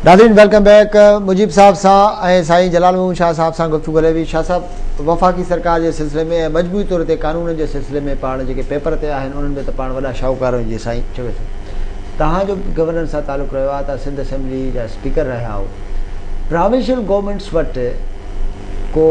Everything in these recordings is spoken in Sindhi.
ناظرين ويلڪم بيڪ مجيب صاحب سان ۽ سائين جلال محمود شاهه صاحب سان گفتگو هلي وئي شاهه صاحب وفاقي سرڪار جي سلسلي ۾ ۽ مجموعي طور تي قانون جي سلسلي ۾ پاڻ جيڪي پيپر تي آهن انهن ۾ ته پاڻ وڏا شاهوڪار آهيون جيئن سائين چوي ٿو توهان جو گورنر سان تعلق رهيو آهي توهان سنڌ اسيمبلي جا اسپيڪر رهيا آهيو پراوينشل گورنمينٽس وٽ ڪو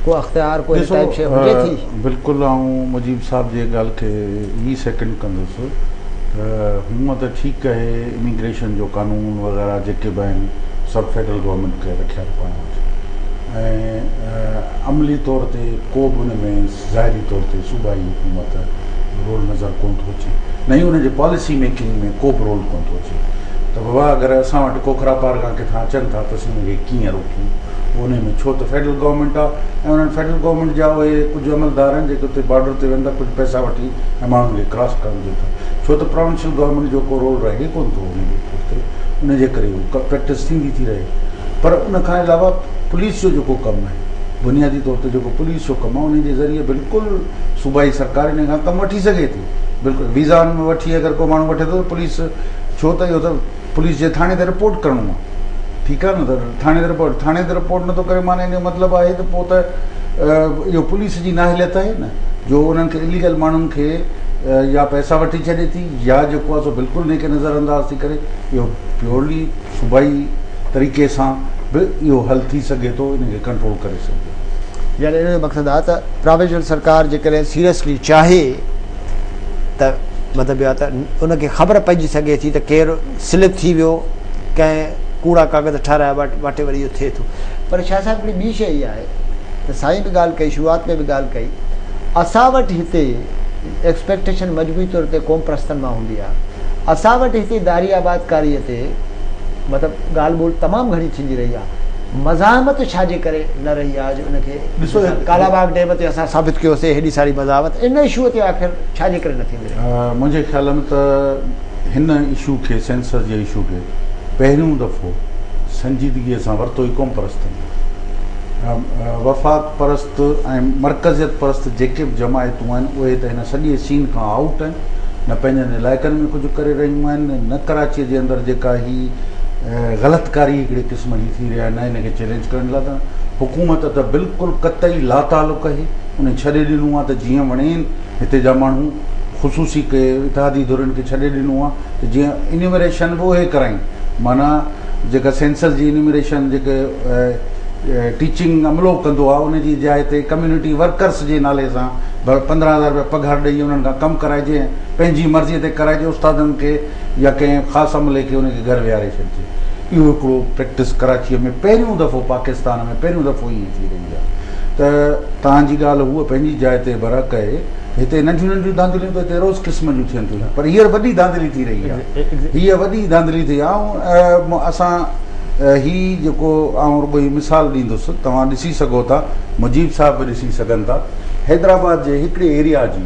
ڪو اختيار ڪو ڏسو بلڪل آئون مجيب صاحب جي ڳالھ کي هي سيڪنڊ ڪندس ته هونء ته ٺيڪ اهي اميگريشن جو قانون وغيره جيڪي به آهن سڀ فيڊرل گورنمينٽ ڪري رکيا آهن پاڻ وٽ ۽ عملي طور تي ڪو به ان ۾ ظاهري طور تي صوبائي حڪومت رول نظر ڪون ٿو اچي نه ئي ان جي پاليسي ميڪنگ ۾ ڪو به رول ڪون ٿو اچي ته بابا اگر اسان وٽ کوکرا پارگا ڪٿان اچن ٿا ته اسين ان کي ڪيئن روڪون انهي ۾ ڇو ته فيڊرل گورنمينٽ آ ۽ انهن فيڊرل گورنمينٽ جا اهي ڪجهه عملدار آهن جيڪي اتي بارڊر تي ويندا ڪجهه پئسا وٺي ۽ ماڻهن کي ڪراس ڪرڻ ڏين ٿا ڇو ته پراونشل گورنمينٽ جو ڪو رول رهي ڪونه ٿو انهي ايئرپورٽ تي انهي جي ڪري اهو پريڪٽس ٿيندي ٿي رهي پر ان کان علاوه پوليس جو جيڪو ڪم آهي بنيادي طور تي جيڪو پوليس جو ڪم آهي انهي جي ذريعي بلڪل صوبائي سرڪار انهي کان ڪم وٺي سگهي ٿي بلڪل ويزا ان ۾ وٺي اگر ڪو ماڻهو وٺي ٿو ته پوليس ڇو ته اهو ته پوليس جي ٿاڻي تي رپورٽ ڪرڻو آ ٺيڪ آ نه ته ٿاڻي تي رپورٽ ٿاڻي تي رپورٽ نٿو ڪري معنيٰ ان جو مطلب آهي ته پوء ته اهو پوليس جي نااهليت آهي نه جو انهن کي اليگل ماڻهن کي يا پئسا وٺي ڇڏي ٿي يا جيڪو آهي سو بلڪل ان کي نظر انداز ٿي ڪري اهو پيورلي صوبائي طريقي سان به اهو حل ٿي سگهي ٿو ان کي ڪنٽرول ڪري سگهجي ٿو. يعني ان جو مقصد آ ته پراويزنل سرڪار جيڪڏهن سيريسلي چاهي ته مطلب اهو آهي ته ان کي خبر پئجي سگهي ٿي ته ڪير سلپ ٿي ويو ڪنهن ڪوڙا ڪاغذ ٺهرايا واٽي وري اهو ٿئي ٿو پر شاهه صاحب هڪڙي ٻي شيء اها آهي ته سائين به ڳالهه ڪئي شروعات ۾ به ڳالهه ڪئي اسان وٽ هتي ايڪسپيڪٽيشن مجموعي طور تي قوم پرستن مان هوندي آهي اسان وٽ هتي داري آبادڪاري تي مطلب ڳالهه ٻولهه تمام گهڻي ٿيندي رهي آهي مزاحمت ڇا جي ڪري نه رهي آهي جو ان کي ڏسو ڪالا باغ ڊيم تي اسان ثابت ڪيو سي هيڏي ساري مزاحمت ان اشو تي آخر ڇا جي ڪري نه ٿيندي رهي. منهنجي خيال ۾ ته هن اشو کي سينسر جي اشو کي پهريون دفعو سنجيدگي سان ورتو ئي قوم پرستن وفاق پرست ۽ مرڪزيت پرست جيڪي به جماعتون آهن اهي ته هن سڄي سين کان آئوٽ آهن نه پنهنجن علائقن ۾ ڪجهه ڪري رهيون آهن نه ڪراچي جي اندر جيڪا هي غلط ڪاري هڪڙي قسم دشمني ٿي رهي آهي نه ان کي چئلينج ڪرڻ لاء ته حڪومت ته بلڪل قطعي لاتعلق آهي انهن ڇڏي ڏنو آهي ته جيئن وڻين هتي جا ماڻهو خصوصي ڪي اتحادي ڌرين کي ڇڏي ڏنو آهي ته جيئن انيمريشن به اهي ڪرائين معنيٰ جيڪا سينسس جي انيمريشن جيڪي ٽيچنگ عملو ڪندو آهي ان جي جاء تي ڪميونٽي ورڪرس جي نالي سان پندرهن هزار روپيا پگهار ڏئي انهن کان ڪم ڪرائجي پنهنجي مرضي تي ڪرائجي استادن کي يا ڪنهن خاص عملي کي ان جي گهر ويهاري ڇڏجي اهو هڪڙو پريڪٽس ڪراچيء ۾ پهريون دفعو پاڪستان ۾ پهريون دفعو ائين ٿي رهي آهي ته توهان جي ڳالهه هوء پنهنجي جاء تي برحق آهي هتي ننڍيون ننڍيون ڌانڌليون ته هتي روز قسم جون ٿين ٿيون پر هينئر وڏي ڌانڌلي ٿي رهي آهي هيء وڏي ڌانڌلي ٿي آهي اسان هي جيڪو آئون رڳو هي مثال ڏيندس توهان ڏسي سگهو ٿا مجيب صاحب به ڏسي سگهن ٿا حيدرآباد جي هڪڙي ايريا جي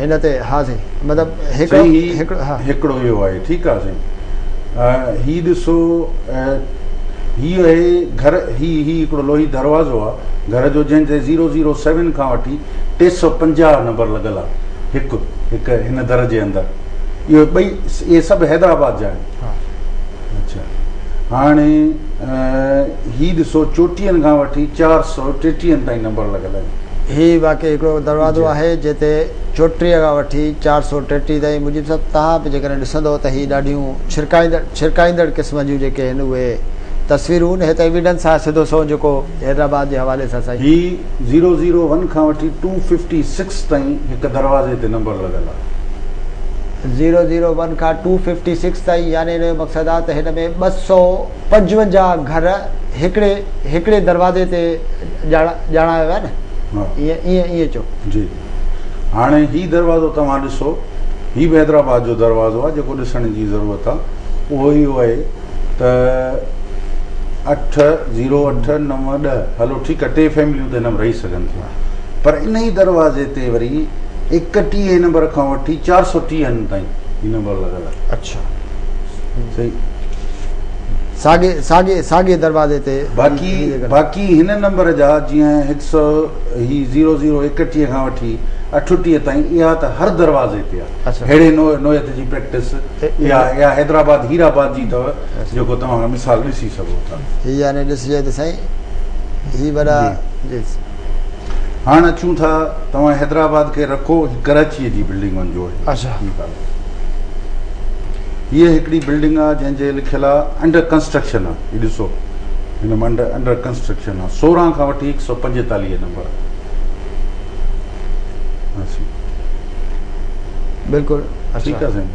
هن تي ها سائين مطلب هڪڙو هڪڙو هڪڙو آهي ٺيڪ آهي سائين هي ڏسو هي آهي گهر هي هي هڪڙو لوهي دروازو آهي گهر جو جنهن تي 007 کان وٺي 350 نمبر لڳل آهي هڪ هڪ هن در جي اندر اهو ٻئي اهي سڀ حيدرآباد جا آهن هاڻي هي ڏسو چوٽيهن کان وٺي چار سؤ ٽيٽيهن تائين نمبر لڳل آهن. هي واقعي هڪڙو دروازو آهي جنهن تي چوٽيهه کان وٺي چار سؤ ٽيٽيهه تائين مجيب صاحب توهان به جيڪڏهن ڏسندؤ ته هي ڏاڍيون ڇرڪائيندڙ ڇرڪائيندڙ قسم جون جيڪي هن اهي تصويرون هي ته ايويڊنس آهي سڌو سنئون جيڪو حيدرآباد جي حوالي سان سائين. هي زيرو زيرو ون کان وٺي ٽو ففٽي سڪس تائين هڪ دروازي تي نمبر لڳل آهي. زيرو زيرو ون کان ٽو ففٽي سڪس تائين يعني ان جو مقصد آ ته هن ۾ ٻه سؤ پنجونجاهه گهر هڪڙي هڪڙي دروازي تي ڄاڻايا ويا نه ائين ائين چئو. جي هاڻي هي دروازو توهان ڏسو هي به حيدرآباد جو دروازو آ جيڪو ڏسڻ جي ضرورت آ اهو اهو آهي ته اٺ زيرو اٺ نو ڏهه هلو ٺيڪ آ ٽي فيمليون ته هن ۾ رهي سگهن ٿيون. پر انهي دروازي تي وري ايڪٽيهين نمبر کان وٺي چار سو ٽيهن تائين هي نمبر لڳل آهي اڇا صحيح ساڳي ساڳي ساڳي دروازي تي باقي باقي هن نمبر جا جيئن هڪ سو هي زيرو زيرو ايڪٽيهه کان وٺي اٺوٽيهه تائين اها ته هر دروازي تي آهي اهڙي نوعيت جي پريڪٽس اها اها حيدرآباد هيرآباد جي اٿو جيڪو توهان هن مثال ڏسي سگهو ٿا. هي يعني ڏسجي ته سائين هي وڏا جي هاڻ اچون ٿا توهان حيدرآباد کي رکو هي ڪراچي جي بلڊنگن جو آهي اچھا ٺيڪ آهي هي هڪڙي بلڊنگ آهي جنهن جي لکيل آهي انڊر ڪنسٽرڪشن آهي هي ڏسو هن منڊ انڊر ڪنسٽرڪشن آهي سورهن کان وٺي هڪ سؤ پنجيتاليهه نمبر بلڪل ٺيڪ آهي سائين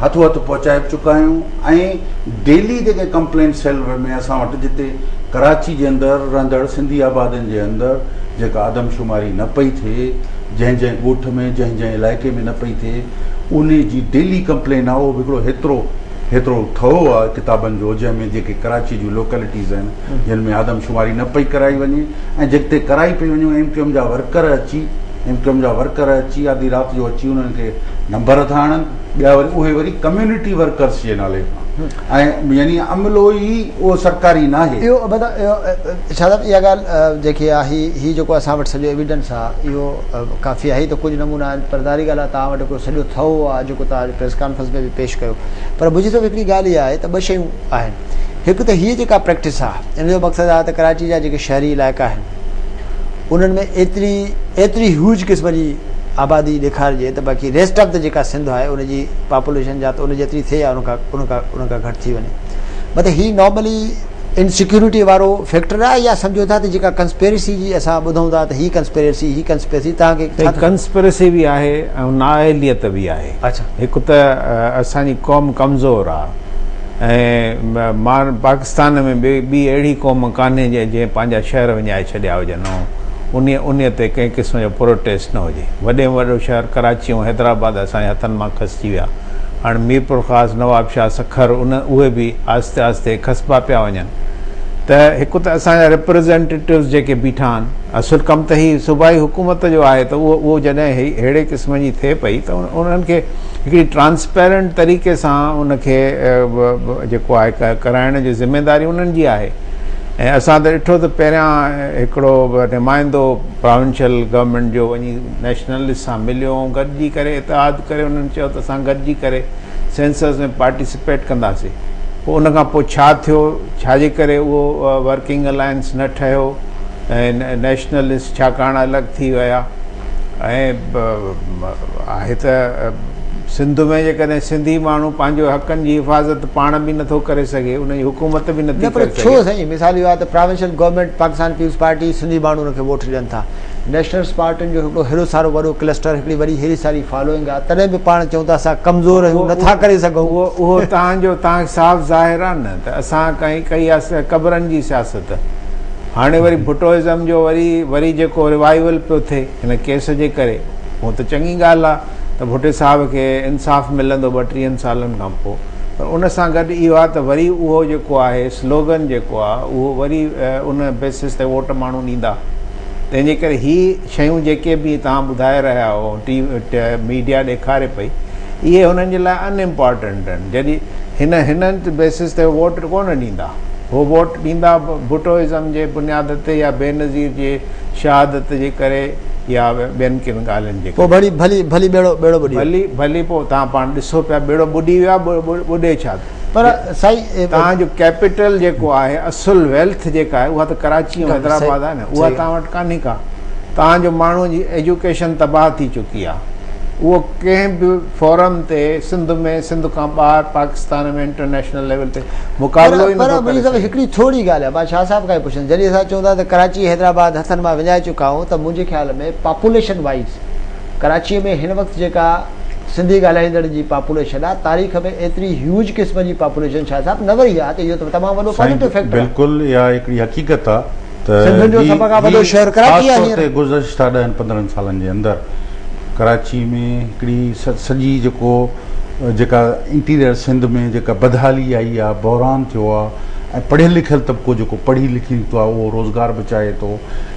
هٿو هٿ پهچائي به چڪا آهيون ۽ ڊيلي جيڪي ڪمپلين سيل ۾ اسان وٽ جتي ڪراچي جي اندر رهندڙ سنڌي آبادين جي اندر جيڪا آدمشماري نه پئي ٿئي جنهن جنهن ڳوٺ ۾ جنهن جنهن علائقي ۾ نه پئي ٿئي ان جي ڊيلي ڪمپلين آهي اهو به هڪڙو هيترو هيترو ٿهو آهي ڪتابن جو جنهن ۾ جيڪي ڪراچي جون لوڪلٽيز آهن جن ۾ آدم شماري نه پئي ڪرائي وڃي ۽ جتي ڪرائي پئي وڃي ايم ڪيو ايم جا ورڪر اچي ايم ڪيو ايم جا ورڪر اچي آڌي رات جو اچي انهن کي نمبر ٿا آڻن ٻيا وري اهي وري ڪميونٽي ورڪرس جي نالي سان ۽ يعني عملو ئي اهو سرڪاري نه آهي اهو مطلب شاهد صاحب اها ڳالهه جيڪي آهي هي جيڪو اسان وٽ سڄو ايويڊنس آهي اهو ڪافي آهي ته ڪجهه نمونا آهن پر ظاهري ڳالهه آهي توهان وٽ هڪڙو سڄو ٿهو آهي جيڪو توهان پريس ڪانفرنس ۾ به پيش ڪيو پر منهنجي حساب سان هڪڙي ڳالهه اها آهي ته ٻه شيون آهن هڪ ته هيء جيڪا پريڪٽس آ ان جو مقصد آ ته ڪراچي جا جيڪي شهري علائقا آهن انهن ۾ ايتري ايتري هيوج قسم جي آبادي ڏيکارجي ته باقي ريسٽ آف ته جيڪا سنڌ آهي ان جي پاپوليشن يا ته ان جيتري ٿئي يا ان کان ان کان ان کان گهٽ ٿي وڃي مطلب هي نارملي انسيڪيورٽي وارو فيڪٽر آهي يا سمجهو ٿا ته جيڪا ڪنسپيرسي جي اسان ٻڌون ٿا ته هي ڪنسپيرسي هي ڪنسپيرسي تان کي ڪنسپيرسي به آهي ۽ نااهليت به آهي اڇا هڪ ته اسان جي قوم ڪمزور آ ۽ پاڪستان ۾ به ٻي اهڙي قوم ڪانهي جنهن پنهنجا شهر وڃائي ڇڏيا هجن ۽ انهي تي ڪنهن قسم جو پروٽيسٽ نه هجي. وڏي ۾ وڏو شهر ڪراچي ۽ حيدرآباد اسان جي هٿن مان کسجي ويا. هاڻ ميرپورخاص، نوابشاهه، سکر اهي به آهستي آهستي کسبا پيا وڃن ته هڪ ته اسان جا ريپريزينٽيٽوز جيڪي بيٺا آهن اصل ڪم ته هي صوبائي حڪومت جو آهي ته اهو جڏهن اهڙي قسم جي ٿئي پئي ته انهن کي هڪڙي ٽرانسپيرنٽ طريقي سان ان کي جيڪو آهي ڪرائڻ جي ذميواري انهن جي آهي ۽ اسان ته ڏٺو ته پهريان هڪڙو نمائندو پراونشل گورنمينٽ جو وڃي نيشنلسٽ سان مليو ۽ گڏجي ڪري اتحاد ڪري انهن چيو ته اسان گڏجي ڪري سينسس ۾ پارٽيسپيٽ ڪنداسين پوء ان کان پوء ڇا ٿيو ڇا جي ڪري اهو ورڪنگ الائنس نه ٺهيو ۽ نيشنلسٽ ڇاڪاڻ الڳ ٿي ويا ۽ آهي ته سنڌ ۾ جيڪڏهن سنڌي ماڻهو پنهنجو حقن جي حفاظت پاڻ به نٿو ڪري سگهي ان جي حڪومت به نٿي ڪري سگهي نه پر ڇو سائين مثال اهو آهي ته provincial government Pakistan Peoples Party Sindhi ماڻهو ان کي ووٽ ڏين ٿا نيشنلسٽ پارٽين جو هڪڙو هيڏو سارو وڏو ڪلسٽر هڪڙي وڏي هيري ساري فالوئنگ آهي تڏهن به پاڻ چئون ٿا اسان ڪمزور آهيون نٿا ڪري سگهون اهو تهان جو تهان کي صاف ظاهر آهي نه ته اسان ڪئي ڪئي قبرن جي سياست هاڻي وري ڀٽو ازم جو وري وري جيڪو ريوائيول پيو ٿئي هن ڪيس جي ڪري هونء ته چڱي ڳالهه آ ته ڀٽي صاحب کي انصاف ملندو ٻٽيهن سالن کان پوء پر ان سان گڏ اهو آ ته وري اهو جيڪو آهي سلوگن جيڪو آ اهو وري ان بيسس تي ووٽ ماڻهو ڏيندا تنهن جي ڪري هي شيون جيڪي به توهان ٻڌائي رهيا آهيو ٽي وي ميڊيا ڏيکاري پئي اهي هنن جي لاء ان امپارٽنٽ آهن جڏهن هن هنن بيسز تي ووٽ ڪونه ڏيندا هو ووٽ ڏيندا ڀٽو ازم جي بنياد تي يا بينظير جي شهادت جي ڪري يا ٻين ڪن ڳالهين جي ڪري ڀلي ڀلي ڀلي ٻيڙو ٻيڙو ٻڏي ويو ڀلي ڀلي پوء توهان پاڻ ڏسو پيا ٻيڙو ٻڏي ويو آهي ٻڏي ڇا ٿو پر سائين توهان جو ڪيپيٽل جيڪو آهي اصل ويلٿ جيڪا آهي اها ته ڪراچي ۽ حيدرآباد آهي نه اها توهان وٽ ڪانهي ڪا توهان جو ماڻهو جي ايجوڪيشن تباهه ٿي چڪي آهي اهو ڪنهن به فورم تي سنڌ ۾ سنڌ کان ٻاهر پاڪستان ۾ انٽرنيشنل ليول تي مقابلو ئي نٿو ڪري سگهي هڪڙي ٿوري ڳالهه آهي مان شاهه صاحب کان ئي پڇندس جڏهن اسان چون ٿا ته ڪراچي حيدرآباد هٿن مان وڃائي چڪا آهيون ته منهنجي خيال ۾ پاپوليشن وائيز ڪراچي ۾ هن وقت جيڪا سنڌي ڳالهائيندڙن جي پاپوليشن آ تاريخ ۾ ايتري هيوج قسم جي پاپوليشن شاهه صاحب نه ورهي آ ته اهو ته تمام وڏو پازيٽو فيڪٽر آ. بلڪل اها هڪڙي حقيقت آ ته سنڌين جو سڀ کان وڏو شهر ڪراچي آ هينئر. گذشته ڏهن پندرهن سالن جي اندر ڪراچي ۾ هڪڙي سڄي جيڪو جيڪا انٽيريئر سنڌ ۾ جيڪا بدحالي آئي آ بحران ٿيو آ ۽ پڙهيل لکيل طبقو جيڪو پڙهي لکي نڪتو آ اهو روزگار به چاهي ٿو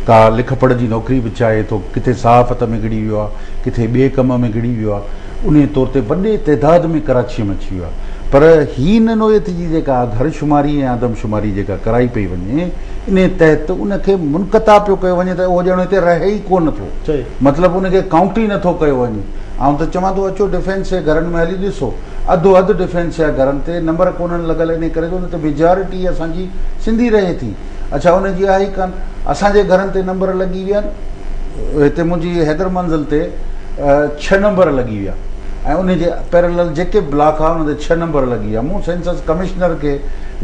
ڪا لک پڙهه جي نوڪري به چاهي ٿو ڪٿي صحافت ۾ گڙي ويو آ ڪٿي ٻئي ڪم ۾ گهڙي ويو آهي انهيء طور تي وڏي تعداد ۾ ڪراچيء ۾ اچي ويو آهي پر هي نه نوعيت جي جيڪا گهر شماري ۽ آدم شماري جيڪا ڪرائي پئي وڃي انهيء تحت ان کي منقطع پيو ڪيو وڃي ته اهو ڄڻ هتي رهي ئي ڪو نه ٿو مطلب ان کي ڪائونٽ ئي نه ٿو ڪيو وڃي آئون ته چوان ٿو اچو ڊفينس جي گهرن ۾ هلي ڏسو اڌو اڌ ڊفينس جا گهرن تي نمبر ڪونهن لڳل انهيء ڪري جو ان تي ميجارٽي اسان جي سنڌي رهي ٿي اڇا ان جي آهي ئي ڪانه اسان جي گهرن تي نمبر لڳي ويا آهن هتي منهنجي حيدر منزل تي ڇهه نمبر لڳي ويا ۽ ان جي پيرلل جيڪي به بلاڪ آهي ان تي ڇهه نمبر لڳي ويا مون سينسس ڪمشنر کي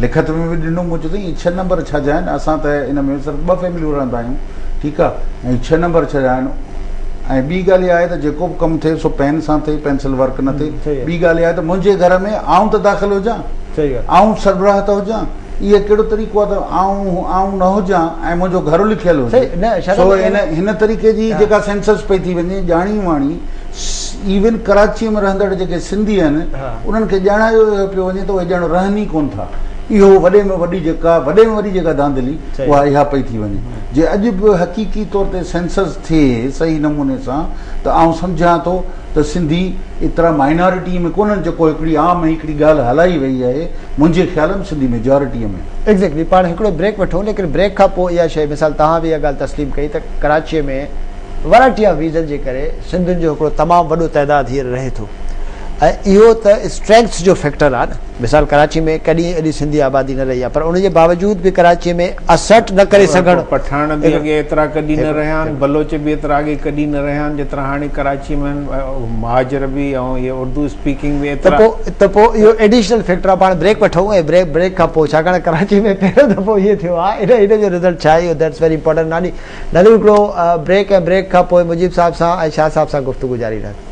لکت ۾ به ڏنو مون چيو هي ڇهه نمبر ڇا جا آهن اسان ته ان ۾ صرف ٻه فيمليون رهندا آهيون ٺيڪ آهي ۽ ڇهه نمبر ڇا جا آهن ۽ ٻي ڳالهه اها آهي ته جيڪو به ڪم ٿئي سو پين سان ٿئي پينسل ورڪ نه ٿئي ٻي ڳالهه اها آهي ته منهنجي گهر ۾ آئون ته داخل هجان آئون سربراهه ته هجان اهو ڪهڙو طريقو آهي ته آئون آئون نه هجان ۽ منهنجو گهر لکيل هجي سو هن هن طريقي جي جيڪا سينسس پئي ٿي وڃي ڄاڻي واڻي ايون ڪراچيء ۾ رهندڙ جيڪي سنڌي آهن انهن کي ڄاڻايو پيو وڃي ته اهي ڄڻ رهن ئي ڪونه ٿا اهو وڏي ۾ وڏي جيڪا وڏي ۾ وڏي جيڪا ڌانڌلي اها اها پئي ٿي وڃي جي اڄ به حقيقي طور تي سينسس ٿئي صحيح نموني سان ته آئون سمجهان ٿو ته سنڌي ايترا مائنارٽيء ۾ ڪونهن جيڪو هڪڙي عام ۽ هڪڙي ڳالهه هلائي ويئي آهي، منهنجي خيال ۾ سنڌي ميجارٽيء ۾. ايگزيڪٽلي پاڻ هڪڙو بريڪ وٺون ليڪن بريڪ کان پوء اها شيء مثال توهان به اها ڳالهه تسليم ڪئي ته ڪراچيء ۾ ورائٽي آف ريزن جي ڪري سنڌين جو هڪڙو تمام وڏو تعداد هينئر رهي ٿو ۽ اهو ته اسٽرينگٿ جو فيڪٽر آهي نه. مثال ڪراچي ۾ ڪڏهن ايڏي سنڌي آبادي نه رهي آهي پر ان جي باوجود به ڪراچي ۾ اسرٽ نه ڪري سگهڻ. پٺاڻ به اڳي ايترا ڪڏهن نه رهيا آهن، بلوچ به ايترا اڳي ڪڏهن نه رهيا آهن جيترا هاڻي ڪراچي ۾ آهن، مهاجر به ۽ اهي اردو اسپيڪنگ به ايترا. ته پوء ته پوء اهو ايڊيشنل فيڪٽر آهي پاڻ بريڪ وٺون ۽ بريڪ بريڪ کان پوء ڇاڪاڻ ڪراچي ۾ پهريون دفعو ايئن ٿيو آهي ان ان جو رزلٽ ڇا ايو ڌيٽس ويري امپورٽنٽ ناني نالو هڪڙو بريڪ ۽ بريڪ کان پوء مجيب صاحب سان ۽ شاهه صاحب سان گفتگو جاري رهندي.